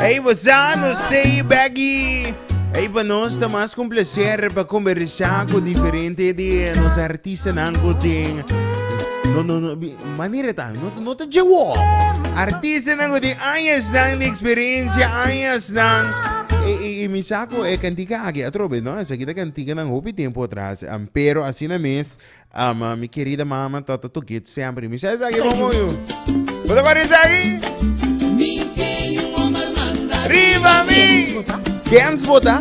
Hey, Bozano, stay baggy. Hey, pa nos ta mas con placer pa conversar con diferente de nos artista nan gotin. No, no, no, manera ta, no, no ta jawo. Artista nan gotin, añas nan de experiencia, añas nan. E, e, e mi saco e cantica aquí atrobe, no? Esa aquí ta cantica nan hopi tiempo atrás. Um, pero así na mes, Ama mi kerida mama tata to git semper mi sa esaki bon bon yo Bo ta kore esaki Riba mi Dance bota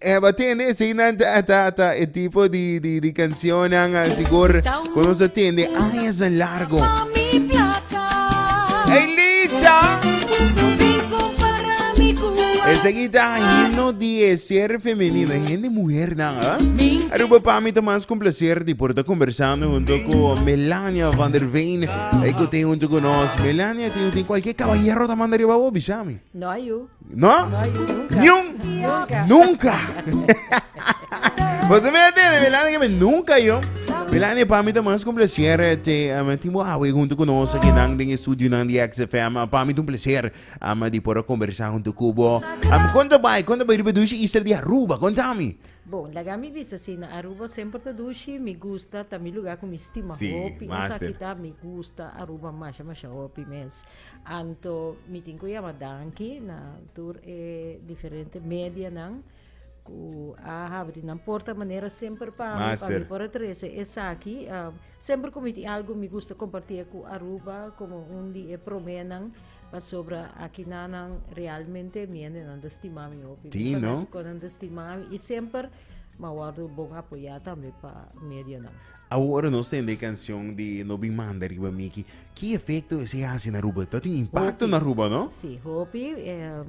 eh, wat tende ese nan ta ta ta e tipo di di di canción nan a sigur kono sa tende años en largo Hey Lisa Ese guita himno di e ser femenino e muhernan. Aruba pa mi ta mas ku placer di por ta kombersando hunto ku Melania van der Veen, e ku tin hunto ku nos. Melania, tin tin kualke kabayero ta manda riba bo? Bisa mi. No a yu. No? No a yu nunka. Niun? Nunka. Nunka. Boso me atende, Melania, ke me nunka yo. Melania, pa mi ta mas ku placer te um, tin bo awe hunto ku nos aki nan den e studio nan di XFM. Pa mi ta un placer. Ama di por a kombersá huntu ku bo. Am, kon ta bai, kon ta bai riba dushi Easter di Aruba? Kontami. Bon, laga mi bisa si na Aruba semper ta dushi, mi gusta, ta mi lugá ku mi stima Sí, hopi. Master. Esaki ta, mi gusta Aruba masha masha hopi mes. Anto mi tin ku yama danki na tur e diferente medianan. ku a habri nan porta manera semper pa mi pa mi por a trese esaki uh, semper ku mi tin algo mi gusta kompartí ku Aruba komo un di e promé nan pasobra aki nanan realmente mi ende nan da stima mi hopi sí, no? konan da stima mi i semper ma wordo bon apoyá tambe pa medio nan Awor nos tende e cancion di No Bin Manda Riba Mi aki. Ki efecto esey haci na Aruba? Ta tin impacto na Aruba, no? Si, hopi.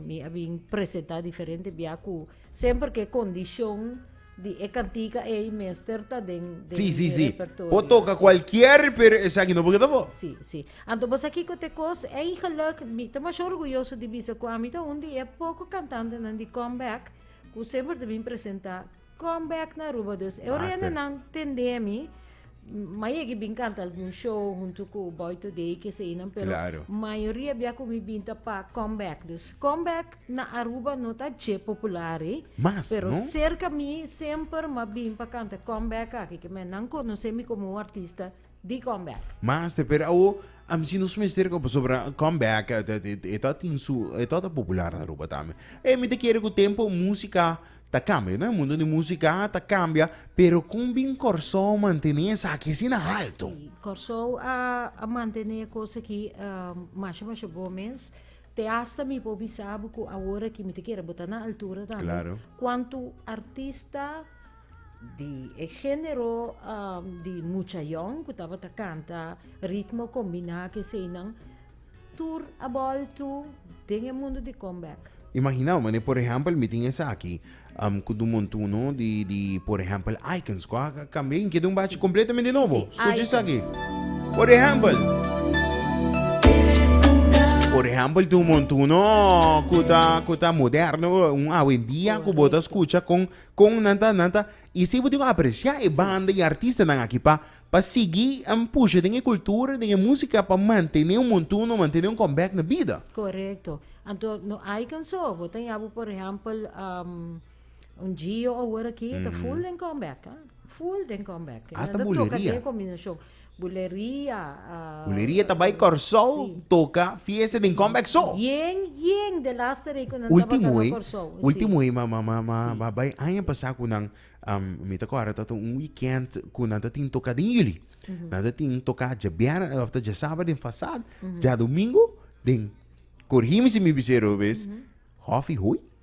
Mi a bin presenta diferente bia cu semper cu e condicion di e cantica ey mester ta den mi repertorio. Si, si, si. Por toca cualkier, pero esaki no por keda afo. Si, si. Anto bo sa kico ta e cos? Eigenlijk, mi ta masho orguyoso di bisa cu ami ta un di e poco cantantenan di Comeback cu semper ta bin presenta Come back na Aruba dus. Eu rende nan tende a mi. Ma yegi bin canta algun show junto cu Boy Today, que se inan, pero claro. mayoria bia cu mi bin ta pa come back. Dus come back na Aruba no ta dje popular, eh. Mas, pero no? cerca mi semper ma bin pa canta come back aki, que men nan conoce mi como un artista. di comeback. Master, pero awo a misi nos mester ko pasobra comeback eh, ta- ta- ta- ta tin su eh, ta ta popular na Aruba tambe. E mi te kere ku tempo musika ta kambia, no? E mundo di musika ta kambia, pero kon bin Kòrsou mantené esaki asina alto? Sí, Kòrsou a, a mantené kos aki um, masha masha bon mes. Te hasta mi por bisa bo ku awor aki mi ta kere bo ta na altura tambe. Claro. Kuantu artista di e género um, di muchayón ku tabata kanta ritmo kombiná ke seinan tur a bòltu den e mundu di comeback. Imaginá, mane, por ehèmpel, mi tin esaki um, ku dun montuno di, di por ehèmpel, icons ku a kambia in keda un bachi kompletamente nobo. Skucha esaki. Por ehèmpel, por ehèmpel, dun montuno ku ta, ku ta moderno, un awendia ku bo ta skucha kon Kon nan ta nan ta y si bo tin ku aprecia e banda y artistanan aki pa pa sigui an pusha den e kultura den e musika pa mantene un montuno mantene un comeback na bida. Correcto. Anto no ai canso bo ta ya bo por ehempel un Gio awor aki ta full den comeback full den comeback. Hasta buleria. Nan ta toca den e combinacion Buleria ta bai Kòrsou toka fiesta den Comeback so. Ultimo ei, ultimo ei ma ma ma a bai aña pasá ku nan mi ta kòrda tabata un wikènt ku nan ta tin toka den Yuli. Nan ta tin toka dje biernes òf ta dje sabat den Fasad, djadumingu den, korigimi si mi biseo robes, Hòfi Hooi.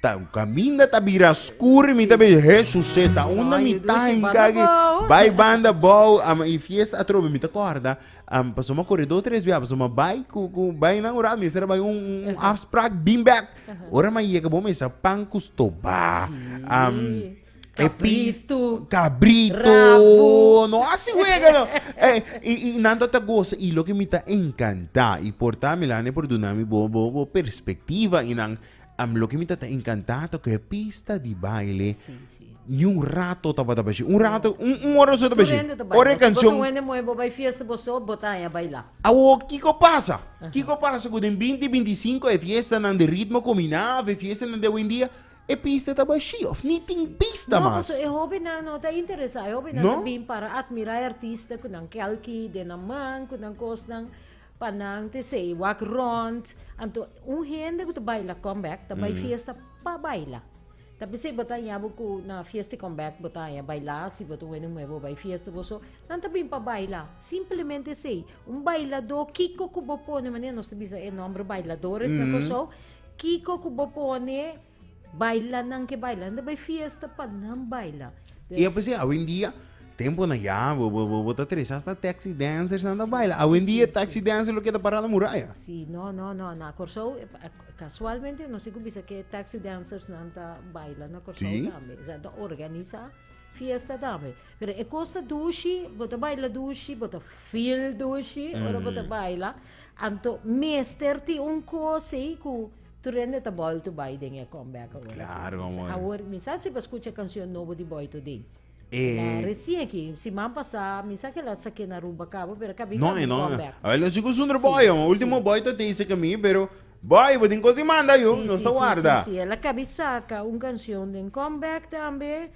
Ta kaminda ta bira skur mi ta bay Jesuseta unda mi ta hinka aki bay banda bou ama i fiesta atrobe mi ta korda am paso mi a kore dos tres bia paso mi a bay ku ku bay nan ora mester a bay un un afsprak bin bèk ora mi a yega bo mester a pan ku stoba am e pis kabritu no hasi wega no e i i nan ta ta gosa i loke mi ta enkanta i por ta milane por duna mi bo bo bo perspektiva i nan. Am loke mi ta tan encantado cu e pista di baile Sí, sí. ni un rato tabata bashi. Un rato, un, un hora su Tu tabashi. rende te baila. Ora e Si bo canción. ta wende moe, bo bai fiesta, bo so, bo ta aña baila. Awo, kiko pasa? Kiko pasa cu den 20, 25 e fiestanan di ritmo cuminá of e fiestanan di awendia e pista ta bashi of ni tin pista No, mas. paso e hobennan no ta interesá. E hobennan No? ta bin para admirá e artista cu nan kelki den nan man, cu nan cosnan. Pa nan te say wak rond. Anto un hende ku ta baila comeback ta bai fiesta pa baila. Ta bisa bo ta haña bo ku na fiesta di comeback bo ta haña baila si bo ta weni muhe bo bai fiesta bo so. Nan ta bin pa baila. Simplemente esei. Un bailadó kiko ku bo pone manera nos ta bisa e nomber bailadores na Kòrsou. Kiko ku bo pone. Baila nan ke baila nan ta bay fiesta pa nan baila. Y a pesar awendia temponan ya bo bo bo bo ta trece hasta taxi dancers nan ta baila. Sí, Awendia sí, taxi dancer lo keda parada muraya. Sí, no, no, no, na Kòrsou e pa- e- kasualmente nos tin ku bisa ke taxi dancers nan ta baila na Kòrsou Sí. tambe. Esnan ta organisá fiesta tambe. Pero e kos ta dushi, bo ta baila dushi, bo ta feel dushi ora bo ta baila. Anto mester tin un kos ei ku Tur hende ta bolto bai den e comeback awor aki. Claro, Misa amor. awor, mi sa si bo a scucha e cancion nobo di Boito Ding. E La E recien aki, siman pasá, mi sa ke la sak'é na Aruba cabo, pero ka bin No, kami e no. comeback. Awor, lo sico sunder Sí, boy, ho. sí. Ultimo boy ta tezi ke mi, pero boy, bo tin cos di manda, yo. Sí, Nos sí, ta sí, warda. sí, sí. El a kabi saka un cancion den comeback tambe.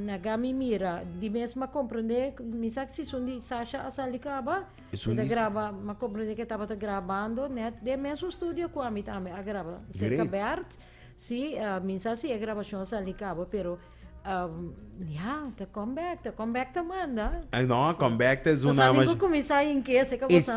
na gami mira di mes ma comprende mi sa si son di sasha a sali caba Esun di sa ma comprende que tabata grabando net den mesun studio cu ami tambe a graba cerca Bert si mi sa si e grabacion a sali caba pero ya ta come back ta come back ta manda no come back ta esun naman shi cuminsa hinke si caba sa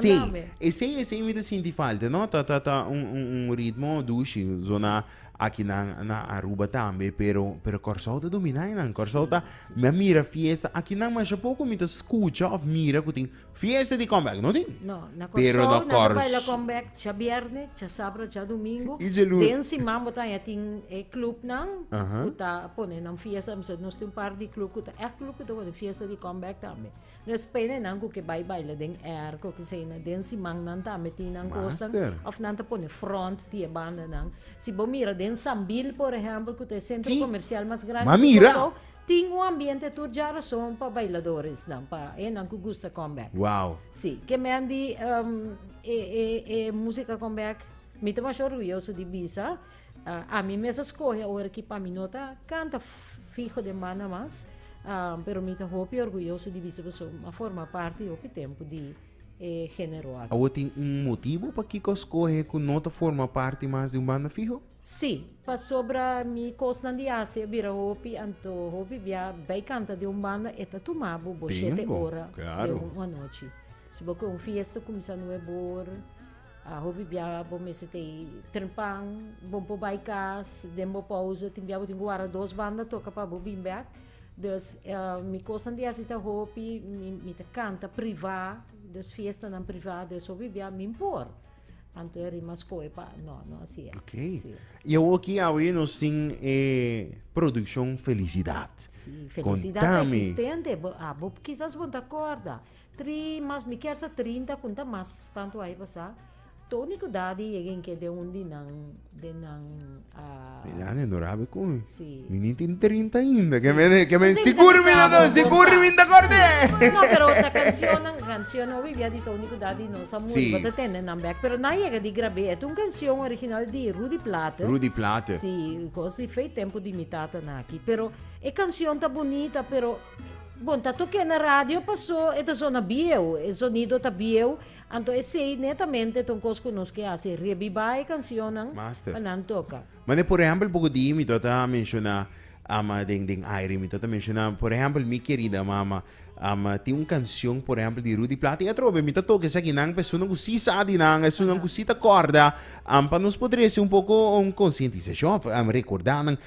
esey esey mi ta sinti falta no ta ta ta un un un ritmo dushi zona Aki nan na Aruba tambe pero pero Kòrsou ta dominá einan. Kòrsou ta mi a mira fiesta aki nan masha poko mi ta skucha òf mira ku tin fiesta di kòmbèk. No tin. No, na Pero na Kòrsou nan ta Kòrs- baila kòmbèk cha bièrnè, cha sabro, cha dumingu. I dje luna. Den siman bo ta haña tin e klupnan Aha. ku ta pone nan fiesta. Nos tin un par di klup ku ta ègt klup ku ta pone fiesta di kòmbèk tambe. Nes penenan cu ke bay baila den air cu keseynan den siman nan ta meti nan cosnan Master. of nan ta pone front di e bandanan. Si bo mira den Sambil por ehempel cu ta e centro Sí. comercial mas grandi Ma di mira. Curaçao tin un ambiente tur dja razon pa bailadoresnan pa enan cu gusta comeback. Wow. Sí, ke men di ehm, e, e, e, música comeback, mi ta masha orguyoso di bisa. Uh, a mi mes a scoge ahora ki pa mi no ta canta fijo de man mas, uh, pero mi ta hopi orgulloso di bisa boso ma forma parte hopi tempo di eh, género aquí. Awo tin un motivo pa kiko scoge ku no ta forma parte mas di un banda fijo? Sí, pa sobra mi kosnan di hace bira hopi anto hopi bia bij canta de un banda eta tuma bo bo siete Tempo, hora de claro. un anochi. Si bo ke un fiesta kumisa nueve hora, A hopi bia bo mester ta e trpan, bo por bai cas den bo pausa, tin bia bo tin cu wara dos banda toca pa bo bin bek, dus mi cosnan di hasi ta hopi, mi ta canta priva, dus fiestanan priva, dus hopi bia min por, anto e rima scoe pa, no, no asi e. Ok. Y awoki awe nos tin e produccion Felicidad. Si, Felicidad ta Contami. existente, bo, a, bo, kisas bo no ta acorda, Tri mas mi kier sa trinta kun ta mas tantu ai pasá. Tony ku Dadi yega in ke den un di nan den nan Di nan e Norabel kon si. Mi ni tin trinta ainda ke mi ke mi sigur mi no tin sigur mi ta kòrde. No pero na kansionan kansion no obi bia di Tony ku Dadi no sa muri bo ta tende nan bèk pero nan yega di grab'é et un kansion original di Rudy Platen. Rudy Platen. Si kos di fei tempu di mi tata nan aki pero e kansion ta bunita pero. Bon, ta toqué na radio pasó e ta zona bieu, e zonido ta bieu, anto esei netamente ta un cos cu nos ke haci, rebiba e cancionnan Master. pa nan toca. Mane por ehempel poco di mi tabata menciona am den den aire mi tabata menciona por ehempel mi querida mama am tin un cancion por ehempel di Rudy Plata y atrobe mi ta toca esaki nan personas cu si sa di nan esun nan cu si ta corda am pa nos poder haci un poco un concientisacion of am recorda nan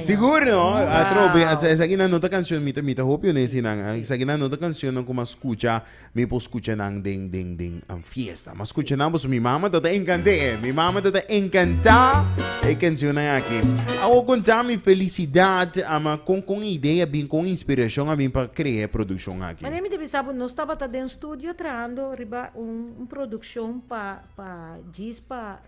Sigur no, atrobe, wow. esaki nan nota canción, mi ta, mi ta hopi un sí, nan, sí. esaki nan nota canción nan kuma escucha, mi por escucha nan den, den, den an fiesta, mas escucha sí. nan boso, mi mama tata encante, sí. mi mama tata encanta e canción nan aki. Awo conta mi felicidad, ama con, con idea bin, con inspiración a bin pa crea producción aki. Mane mi te bisa bo, nos tabata den studio trahando riba un, un producción pa, pa, jis pa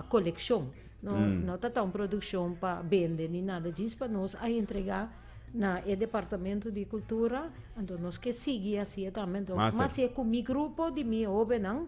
coleccion. No, no ta ta un produccion pa bende ni nada djis pa nos a entrega na e departamento di cultura anto nos ke sigui haci'e tambe anto Master. mas e cu mi grupo di mi hobennan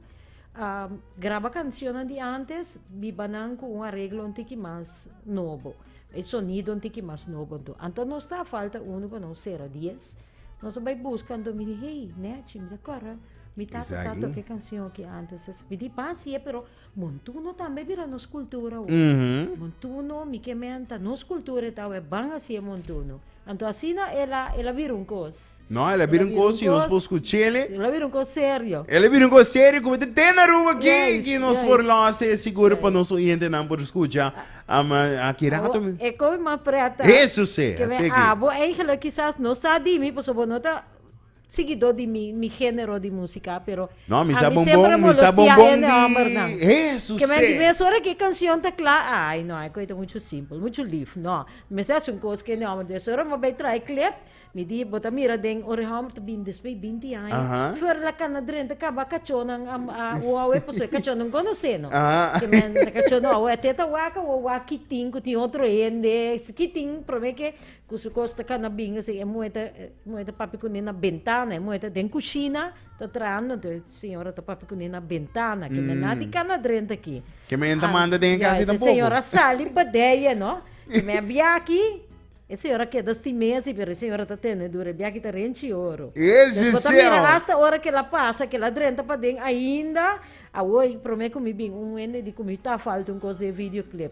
a graba cancionnan di antes biba nan cu un arreglo un tiki mas nobo e sonido un tiki mas nobo anto anto no sta falta uno pa nos cera dies nos a bay busca anto mi di hey Nechi mi ta corda mi tata Is ta aki? toca e cancion aki antes mi di pas si'e pero Montuno tambe bira nos cultura awe. Mm -hmm. Montuno, mi ke menta, nos cultura e ta awe, ban hasi e montuno. Anto asina e la, e la bira un cos. No, e la bira un cos, si nos por scuchele. E la bira un cos serio. E la bira un cos serio, cu bete ten Aruba ki, yes, ki nos yes. por losa e sigur yes. pa nos oyente nan por scucha. Um, aki rato. Oh, e koi ma preta. Eso se. Ke me abo eigenlijk quizás no sa dimi, paso bo no ta Siguidó di mi mi género di músika pero No, mi sa bombon, mi sa bombon di Hesús se. Kementi mes ora ku e kanshon ta kla, ai no, e koi ta muchu simpel, muchu lif. No, mi mester hasi un kos ku e hòmber. Des ora mi bai traha e klep, mi di, bo ta mira den ora e hòmber ta bini despues di binti aña, fuera di la kana drenta kaba kachonnan a wou awe pasobra e kachon no konoseno. Kementi e kachon no awe te ta wak, awe wak kitin ku tin otro hende, kitin promé ke Cu su cos ta cana bin así, e muhe ta, e muhe ta papia cune na bentana, e muhe ta den cushina ta trahando, enton e señora ta papia cune na bentana, que me na di cana drenta aki. Que me enta manda den e Ya, casi esa tampoco. señora sali padeya, no? Que me a biaki, e señora keda stimé así, pero e señora ta tenedura, e biaki ta renchi oro. Yes, Entonces, bo ta mira Giselle. hasta ora kela pasa, kela drenta paden ainda, awoy prome cu mi bin un hende di cu mi ta falta un cos den videoclip.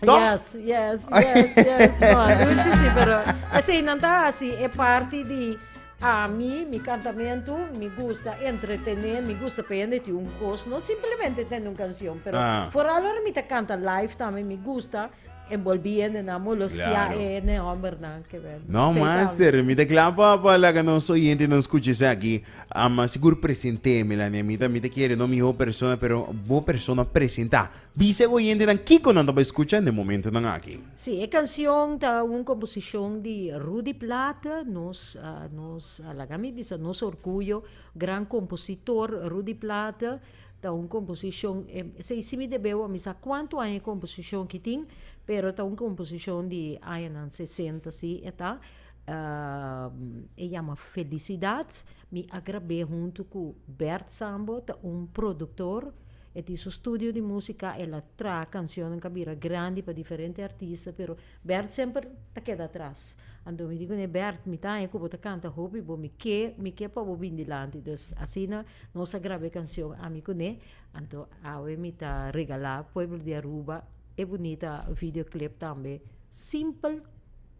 Toch? Yes, yes, yes, yes. No, Lucy sí, pero esei nan ta hasi e parti di a mi, mi cantamentu, mi gusta entretener, mi gusta pa hende tin un cos, no simplemente tene un canción, pero Ah. vooral ora mi ta canta live tambe, mi gusta envolvi hende na molostia Claro. e ne homber na que wer. No, Sei master, tambe. mi te klaar pa, pa laga nos oyente nos escuches aquí. Ama sigur presente me la ne, mi ta, mi te quiere, no mi ho persona, pero bo persona presenta. Bisa e oyentenan kiko nan ta bai skucha n'e momentonan aki. Sí, e kansion ta un komposishon di Rudy Plata, nos nos a laga mi bisa nos orguyo, gran kompositor Rudy Plata. Ta un komposishon, esei si mi debeu a mi sa kuantu aña e komposishon ki tin, pero ta un komposishon di añanan sesenta si e ta. E yama Felicidad, mi a grab'é huntu ku Bert Sambo, ta un produktor. E tin su studio di musika, el a tra cancionnan cu a bira grandi pa diferente artista, pero Bert semper ta keda atras. Anto mi di cune, Bert, mi ta haña cu bo ta canta hopi, bo mi ke, mi ke pa bo bin dilanti. Dus asina nos a graba e cancion Ami Cune, anto awe mi ta regala pueblo di Aruba e bunita video clip tambe, simpel.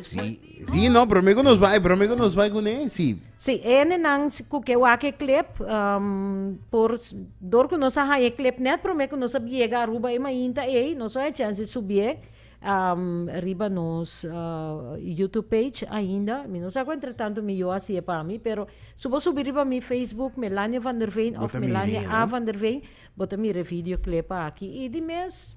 Sí, sí, no, pero mego nos vai, pero mego nos vai con él, sí. Sí, ene nan ku ke wake klep, um, por dor ku nos a hañe klep net prome ku nos a biega Aruba e mainta ei, nos a chance subie um, riba nos uh, YouTube page ainda. Mi no sa ku entre tanto mi yo hasier pa mi, pero su bo subi riba mi Facebook Melania van der Veen of Melania A van der Veen, bo ta mire video klep aki. I di mes